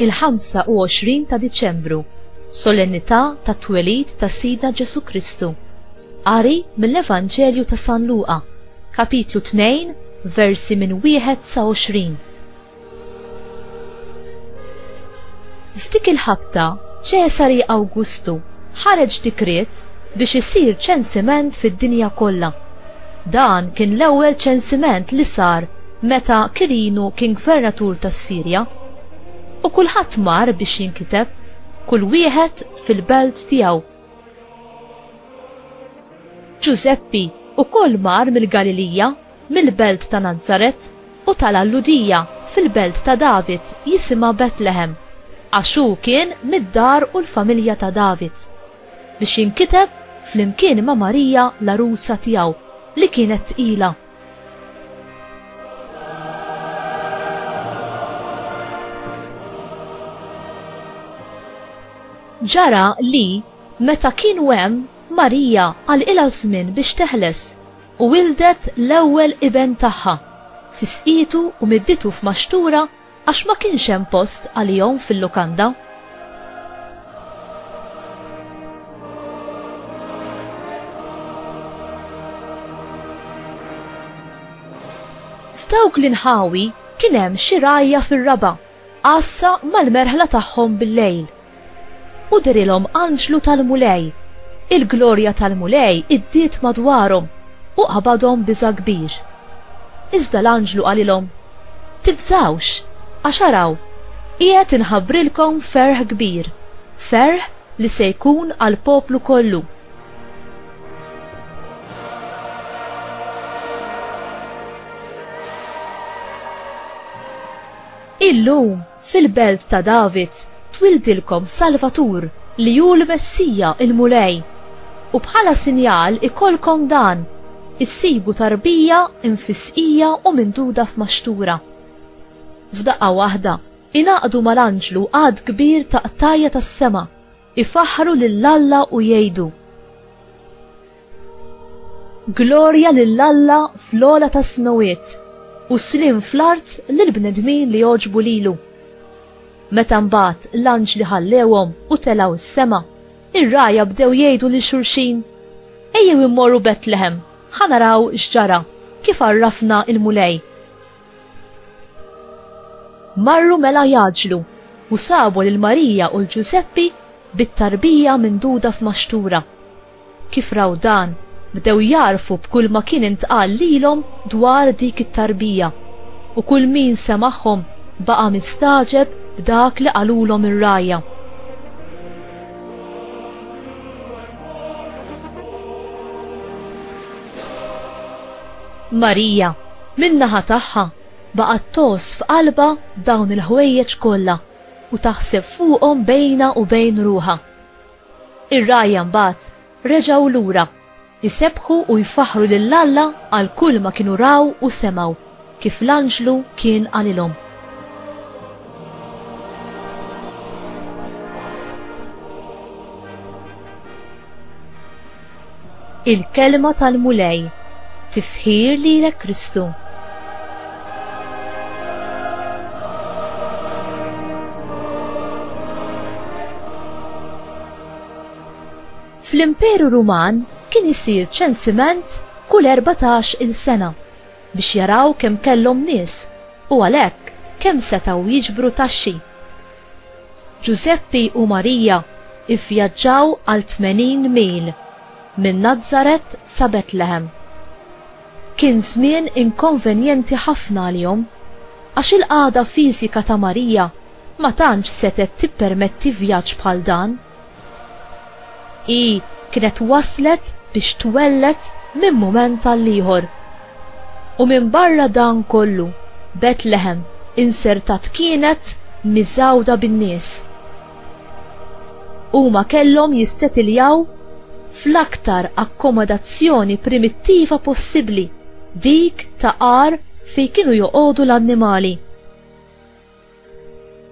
il-25 ta' Diċembru, solennità ta' twelid ta' Sidna Ġesu Kristu. Qari mill-Evanġelju ta' San Luqa, kapitlu 2, versi minn wieħed sa 20. F'dik il-ħabta, Ċesari Awgustu ħareġ dikriet biex isir ċensiment fid-dinja kollha. Dan kien l-ewwel ċensiment li sar meta Kirinu kien gvernatur tas-Sirja. U kulħadd mar biex jinkiteb, kull wieħed fil-belt tiegħu. Ġużeppi wkoll mar mill-Galilija mill-belt ta' Nazaret u tal-għalludija fil-belt ta' David jisimha Betlehem, għax hu kien mid-dar u l-familja ta' David, biex jinkiteb flimkien ma' Marija l-għarusa tiegħu li kienet tqila. Ġara li, meta kienu hemm, Marija għalqilha ż-żmien biex teħles, U wilded l-ewwel iben tagħha, fisqitu u middietu f'maxtura għax ma kienx hemm post għalihom fil-lukanda. F'dawk l-inħawi kien hemm xi rgħajja fir-raba'. Għassa mal-merħla tagħhom bil-lejl. U derilhom anġlu tal-Mulej. Il-glorja tal-Mulej iddiet madwarhom u qabadhom biża' kbir. Iżda l-anġlu qalilhom, Tibżgħux, għax araw, qiegħed inħabbrilkom ferħ kbir, ferħ li se jkun għall-poplu kollu. Illum, fil-belt ta' David, twildilkom Salvatur, li hu l-Messija, il-Mulej. U bħala sinjal ikollkom dan, issibu tarbija mfissqija u minduda f'maxtura. F'daqqa waħda, ingħaqdu mal-anġlu għadd kbir ta' qtajja' tas-sema. Ifaħħru lil Alla u jgħidu, Glorja lil Alla fl-ogħla tas-smewwiet, u sliem fl-art lill-bnedmin li jogħġbu lilu. Meta mbagħad l-anġli ħallewhom u telgħu s-sema, ir-rgħajja bdew jgħidu lil xulxin, Ejjew immorru Betlehem, ħa naraw x'ġara, kif għarrafna l-Mulej. Marru mela jgħaġġlu, u sabu lil Marija u 'l Ġużeppi bit-tarbija minduda f'maxtura. Kif raw dan, bdew jagħrfu b'kulma kien intqal lilhom dwar dik it-tarbija, u kull min semagħhom baqa' mistagħġeb b'dak li qalulhom ir-rgħajja. Marija, min-naħa tagħha, baqgħet tgħożż f'qalbha dawn il-ħwejjeġ kollha u taħseb fuqhom bejnha u bejn ruħha. Ir-rgħajja mbagħad reġgħu lura, isebbħu u jfaħħru lil Alla għal kulma kienu raw u semgħu. Kif l-anġlu kien qalilhom. Il-Kelma tal-Mulej. Tifħir lilek Kristu. Fl-Imperu Ruman kien isir ċensiment kull 14-il sena. biex jaraw kemm kellhom nies u għalhekk kemm setgħu jiġbru taxxi. Ġużeppi u Marija vvjaġġaw għal tmenin mil minn Nazaret sa Betlehem. Kien żmien inkonvenjenti ħafna għalihom għax il-qagħda fiżika ta' Marija ma tantx setgħet tippermetti vjaġġ bħal dan. Hi kienet waslet biex twelled minn mument għal ieħor. U minbarra dan kollu, Betlehem insertat kienet miżgħuda bin-nies. Huma kellhom jissetiljaw fl-aktar akkomodazzjoni primittiva possibbli, dik ta' għar fejn kienu joqogħdu l-annimali.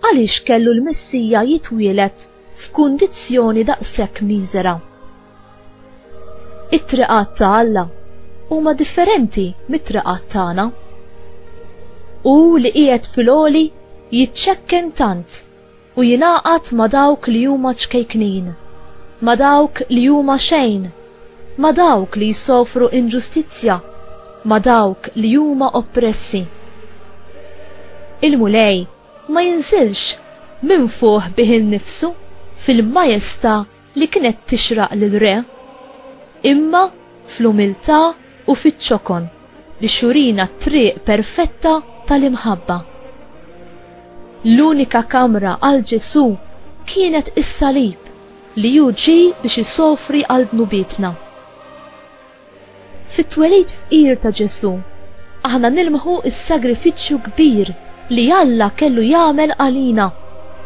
Għaliex kellu l-Messija jitwieled f'kundizzjoni daqshekk miżera? It-triqat ta' Alla huma differenti mit-triqat tagħna. Hu li qiegħed fil-għoli jiċċekken tant u jingħaqad ma' dawk li huma ċkejknin, ma' dawk li huma xejn, ma' dawk li jsofru inġustizzja, ma' dawk li huma oppressi. Il-Mulej ma jinżilx minn fuq bih innifsu fil-majestà li kienet tixraq lir-re, imma fl-umiltà u fiċ-ċokon biex jurina t-triq perfetta tal-imħabba. L-unika kamra għal Ġesù kienet is-salib. Li hu ġie biex isofri għal dnubietna. Fit-twelid fqir ta' Ġesù, aħna nilmħu s-sagrifiċċju kbir li Alla kellu jagħmel għalina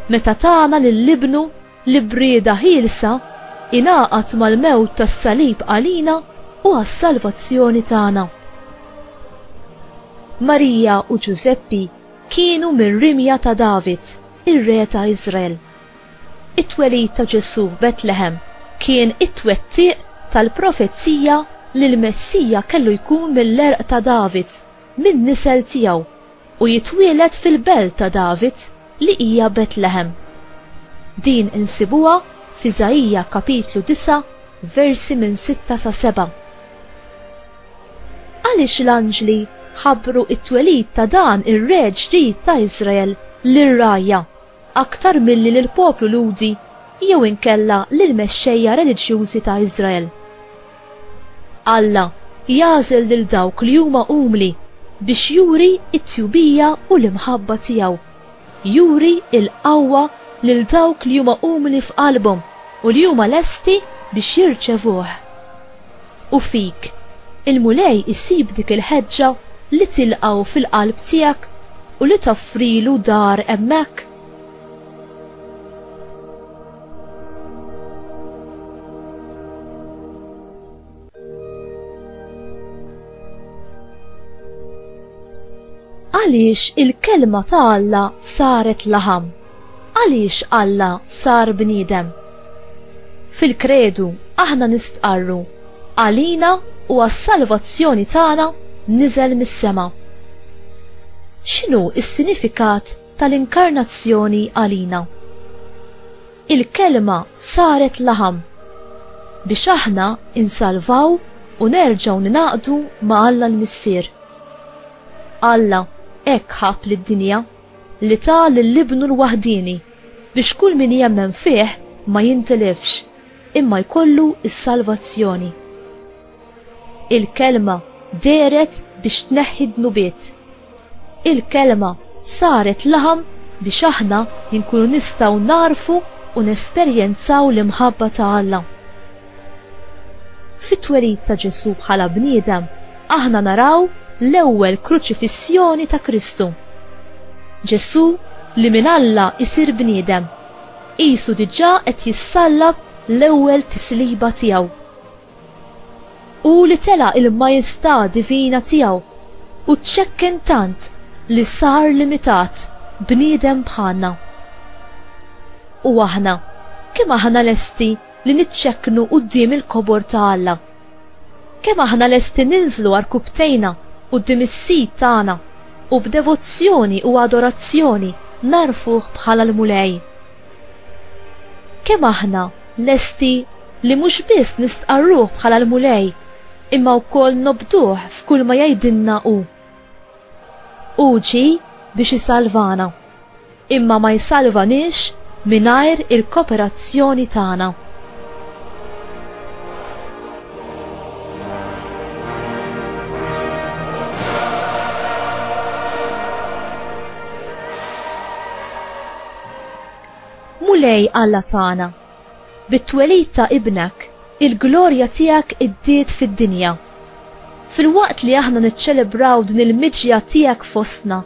meta tana lil Ibnu li b'rieda ħielsa ingħaqad mal-mewt tas-salib għalina u għas-salvazzjoni tagħna. Marija u Ġużeppi kienu mir-rimja ta' David, ir-re ta' Iżrael. It-twelid ta' Ġesù f'Betlehem kien it-twettiq tal-profezija li l-Messija kellu jkun mill-għerq ta' David, min-nisel tiegħu, u jitwieled fil-belt ta' David li hija Betlehem. Din insibuha f'Iżaija kapitlu 9 versi minn 6 sa 7. Għaliex l-anġli ħabbru t-twelid ta' dan ir-Re ġdid ta' Iżrael lir-rgħajja? aktar milli lill-poplu Lhudi jew inkella lill-mexxejja reliġjużi ta' Iżrael. Alla jagħżel lil dawk li huma umli biex juri t-tjubija u l-imħabba tiegħu. Juri l-qawwa lil dawk li huma umli f'qalbhom u li huma lesti biex jirċevuh. U fik, il-Mulej isib dik il-ħeġġa li tilqgħu fil-qalb tiegħek u li toffrilu dar hemmhekk? Għaliex il-Kelma ta' Alla saret laħam? Għaliex Alla sar bniedem? Fil-Kredu aħna nistqarru, Għalina u għas-salvazzjoni tagħna niżel mis-sema. X'inhu s-sinifikat tal-inkarnazzjoni għalina? Il-Kelma saret laħam biex aħna insalvaw u nerġgħu ningħaqdu ma' Alla l-Missier. Alla hekk ħabb lid-dinja. li ta lil Ibnu l-waħdieni, biex kull min jemmen fih ma jintilifx, imma jkollu s-salvazzjoni. Il-Kelma dehret biex tneħħi d-dnubiet. Il-Kelma saret laħam biex aħna nkunu nistgħu nagħrfu u nesperjenzaw l-imħabba ta' Alla. Fit-twelid ta' Ġesù bħala bniedem, aħna naraw l-ewwel kruċifissjoni ta' Kristu. Ġesù, li minn Alla jsir bniedem, qisu diġà qed jissallab l-ewwel tisliba tiegħu. Hu li tela' l-majestà divina tiegħu u ċċekken tant li sar limitat, bniedem bħalna. U aħna, kemm aħna lesti li niċċekknu quddiem il-kobor ta' Alla? Kemm aħna lesti ninżlu għarkupptejna quddiem is-Sid tagħna u b'devozzjoni u adorazzjoni ngħarrfuh bħala l-Mulej? Kemm aħna lesti li mhux biss nistqarruh bħala l-Mulej imma wkoll nobduh f'kull ma jgħidilna hu? Hu ġie biex isalvana. imma ma jsalvaniex mingħajr il-koperazzjoni tagħna. Mulej Alla tagħna, Bit-twelid ta' Ibnek, il-glorja tiegħek iddiet fid-dinja. Filwaqt li aħna niċċelebraw din il-miġja tiegħek fostna,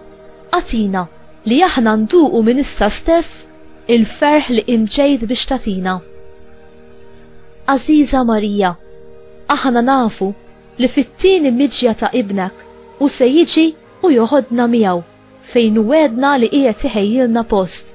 agħtina li aħna nduqu minn issa stess il-ferħ li int ġejt biex tagħtina. Għażiża Marija, aħna nafu li fit-tieni miġja ta' Ibnek hu se jiġi u joħodna miegħu fejn hu wegħedna li qiegħed iħejjilna post.